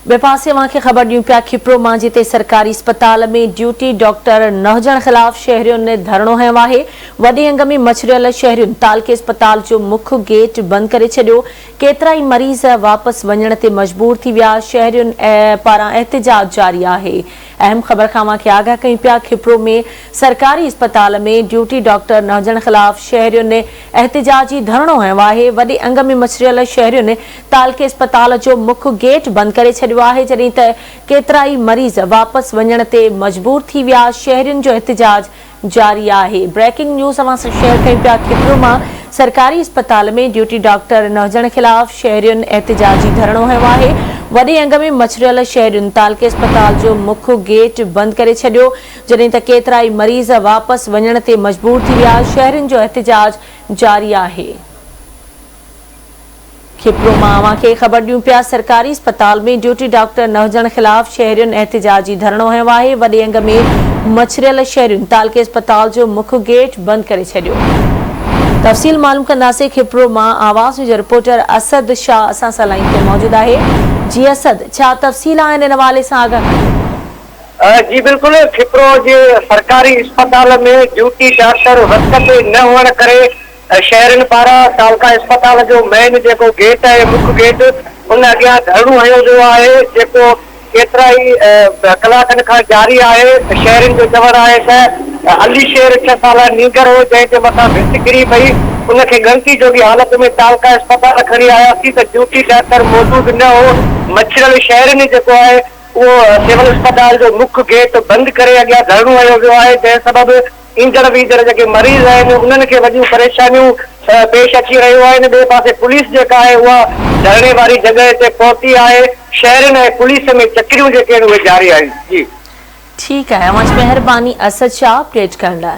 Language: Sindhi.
ٻئي پاسي اوهان کي خبر ڏيون پيا کپرو مان جتي سرڪاري اسپتال ۾ ڊيوٽي ڊاڪٽر نه هجڻ خلاف شهرين ڌرڻو هنيو آهي وڏي انگ ۾ مڇريل شهرين تعلقي اسپتال جو مک گيٽ بند ڪري ڇڏيو ڪيترائي مريض واپس وڃڻ تي مجبور ٿي ويا شهرين پاران احتجاج جاري آهي اهم خبر کان اوهان کي آگاهه ڪيون پيا کپرو ۾ سرڪاري اسپتال ۾ ڊيوٽي ڊاڪٽر نه هجڻ خلاف شهرين احتجاجي ڌرڻو هنيو آهي وڏي انگ ۾ مڇريل شهرين تعلقي اسپتال جو مک گيٽ بند ڪري ڇڏيو آهي جڏهن ته ڪيترائي مريض واپس وڃڻ تي مجبور ٿي ويا، شهرين جو احتجاج جاري آهي بريڪنگ نيوز اوهان سان شيئر ڪيون پيا کپرو مان سرڪاري اسپتال ۾ ڊيوٽي ڊاڪٽر نه هجڻ خلاف شهرين احتجاجي ڌرڻو هنيو آهي وڏي انگ ۾ مڇريل شهرين تعلقي اسپتال جو مک گيٽ بند ڪري ڇڏيو جڏهن ته ڪيترائي مريض واپس وڃڻ تي مجبور ٿي ويا، شهرين جو احتجاج جاري آهي. کپلو مان اوهان کي خبر ڏيون پيا سرڪاري اسپتال ۾ ڊيوٽي ڊاڪٽر نه هجڻ خلاف شهرين احتجاجي ڌرڻو هنيو آهي وڏي انگ ۾ مڇريل شهرين تعلقي اسپتال جو مک گيٽ بند ڪري ڇڏيو تفصيل معلوم ڪنداسين کپلو مان آواز نيوز جو رپورٽر اسد شاهه اسان سان لائين تي موجود آهي جي اسد ڇا تفصيل آهن ان حوالي سان آگاهه ڪريو جي بلڪل کپلو جي سرڪاري اسپتال ۾ ڊيوٽي ڊاڪٽر وقت تي نه هئڻ ڪري شهرين پاران ڪالڪا اسپتال جو مين جيڪو گيٽ آهي مک گيٽ ان اڳيان ڌرڻو هنيو ويو آهي جيڪو ڪيترائي ڪلاڪن کان جاري آهي شهرين جو چوڻ آهي ته علي شير ڇهه سالا نينگر هو جنهن جي مٿان ڀت ڪري پئي ان کي ڳڻتي جوڳي حالت ۾ ڪالڪا اسپتال کڻي آياسين ته ڊيوٽي ڊاڪٽر موجود نه هو مڇرل شهرين جيڪو آهي اهو سول اسپتال جو مک گيٽ بند ڪري اڳيان ڌرڻو هنيو ويو آهي جنهن سبب ايندڙ ويندڙ جيڪي مريض آهن انهن کي وڏيون پريشانيون پيش اچي رهيون آهن ٻئي پاسي پوليس جيڪا آهي اها ڌرڻي واري جڳهه تي پهتي آهي شهرين ۽ پوليس ۾ چڪريون جيڪي آهن اهي جاري آهن جي. ٺيڪ آهي اوهان جي مهرباني اسد شاهه اپڊيٽ ڪرڻ لاء.